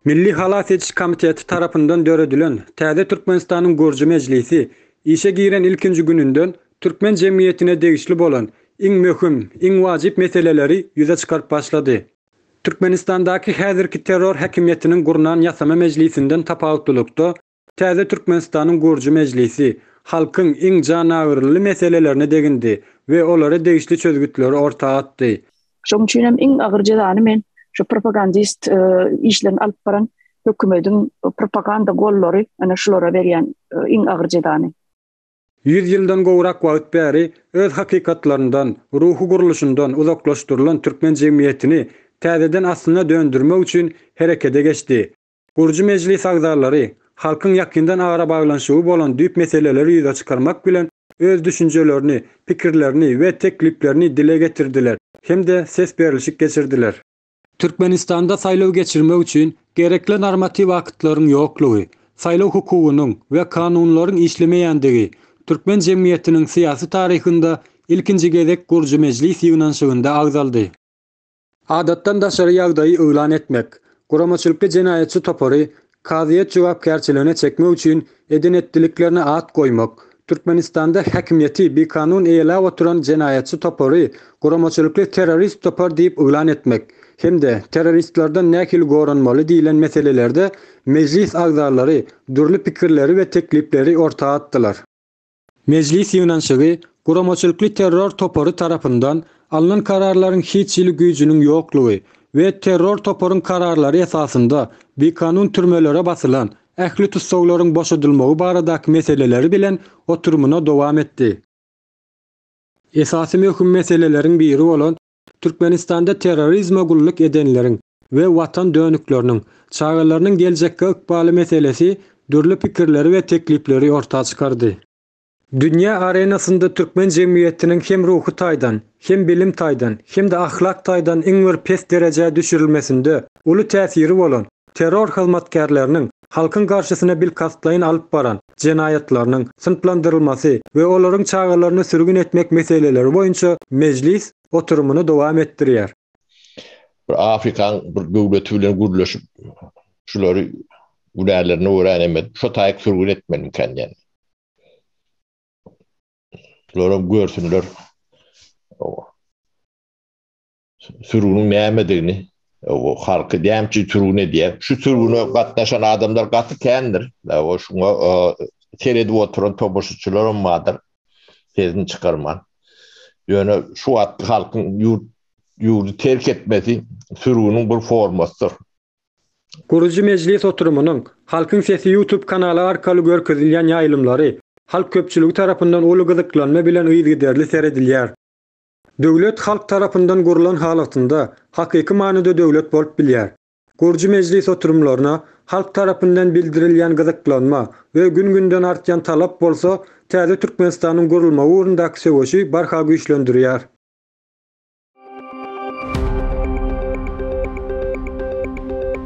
Milli halas ediş komiteti tarapyndan döredilen täze Türkmenistanyň Gürji mejlisi işe giren ilkinji gününden türkmen jemgyýetine degişli bolan iň möhüm, iň wajyp meseleleri ýüze çykaryp başlady. Türkmenistandaky häzirki terror häkimiýetiniň gurnan ýasama mejlisinden tapawutlylykda, Täze Türkmenistanyň gurujy mejlisi halkyň iň janagyryly meselelerine degindi we olara degişli çözgütleri orta atdy. Şoň üçin hem iň agyr jezany men şu propagandist işlerini alyp baran hökümediň propaganda gollary ana şulara berýän iň agyr jezany. Ýüz ýyldan gowrak wagt bäri öz hakykatlaryndan, ruhy gurluşyndan uzaklaşdyrylan türkmen jemgyýetini täzeden aslyna döndürmek üçin herekede geçdi. Gurujy mejlis agzalary halkyň ýakyndan arabaglanyşygy bolan düýp meseleleri ýüze çykarmak bilen, öz düşünjelerini, pikirlerini we tekliplerini dile getirdiler hem-de ses berlişik geçirdiler. Türkmenistanda saýlaw geçirmek üçin gerekli normatiw aktlaryň ýoklugy, saýlaw hukugynyň we kanunlaryň işlemeýändigi türkmen jemgyýetiniň syýasy taryhynda ilkinji gezek gurujy mejlis ýygnanyşygynda agzaldy. Adatdan daşary ýagdaýy yglan etmek, guramaçylykly jenaýatçy topary kazyýet jogapkärçiligine çekmek üçin eden-etdiliklerine at goýmak, Türkmenistanda häkimiýeti bikanun eýeläp oturan jenaýatçy topary guramaçylykly terrorist topar diýip yglan etmek hem-de terroristlerden nähili goranmaly diýlen meselelerde mejlis agzalary dürli pikirleri we teklipleri orta atdylar. Mejlis ýygnanyşygy guramaçylykly terror topary tarapyndan alnan kararlaryň hiç hili güýjüniň ýoklugy we terror toparyň kararlary esasynda bikanun türmelere basylan ähli tussaglaryň boşadylmagy baradaky meseleleri bilen oturymyna dowam etdi. Esasy möhüm meseleleriň biri bolan Türkmenistanda terrorizme gulluk edenleriň we watan dönükleriniň, çagalarynyň geljekki ykbaly meselesi dürli pikirleri we teklipleri orta çykardy. Dünýä arenasynda türkmen jemgyýetiniň hem ruhy taýdan, hem bilim taýdan, hem-de ahlak taýdan iň bir pes derejä düşürilmesinde uly täsiri bolan, Terror hyzmatkärleriniň halkyň garşysyna bilkastlaýyn alyp baran jenaýatlarynyň synplandyrylmasy we olaryň çagalaryny sürgün etmek meseleleri boýunça mejlis oturymyny dowam etdirýär. Bir Afrikaň bir döwleti bilen gürleşip, şulary günälerine görä näme edip, şo taýyk sürgün etmelimikäň diýen. Şular hem görsünler. sürgüniň nämedigini, halky näme üçin sürgün edýär? Şu sürgüne gatnaşan adamlar gaty kändir. Şuňa seredip oturan tomaşaçylaram bardyr, sesini çykarman. Ýöne şu wagtky halkyň ýurt ýurdy terk etmesi sürgüniň bir formasydyr. Gurujy mejlis oturymynyň, Halkyň sesi YouTube kanaly arkaly görkezilýän ýaýlymlary halk köpçüligi tarapyndan uly gyzyklanma bilen yzygiderli seredilýär. Döwlet halk tarapyndan gurlan halatynda hakyky manyda döwlet bolup bilýär. Gurujy mejlis oturymlaryna halk tarapyndan bildirilýän gyzyklanma we gün-günden artýan talap bolsa täze Türkmenistanyň gurulmagy ugrundaky söweşi barha güýçlendirýär.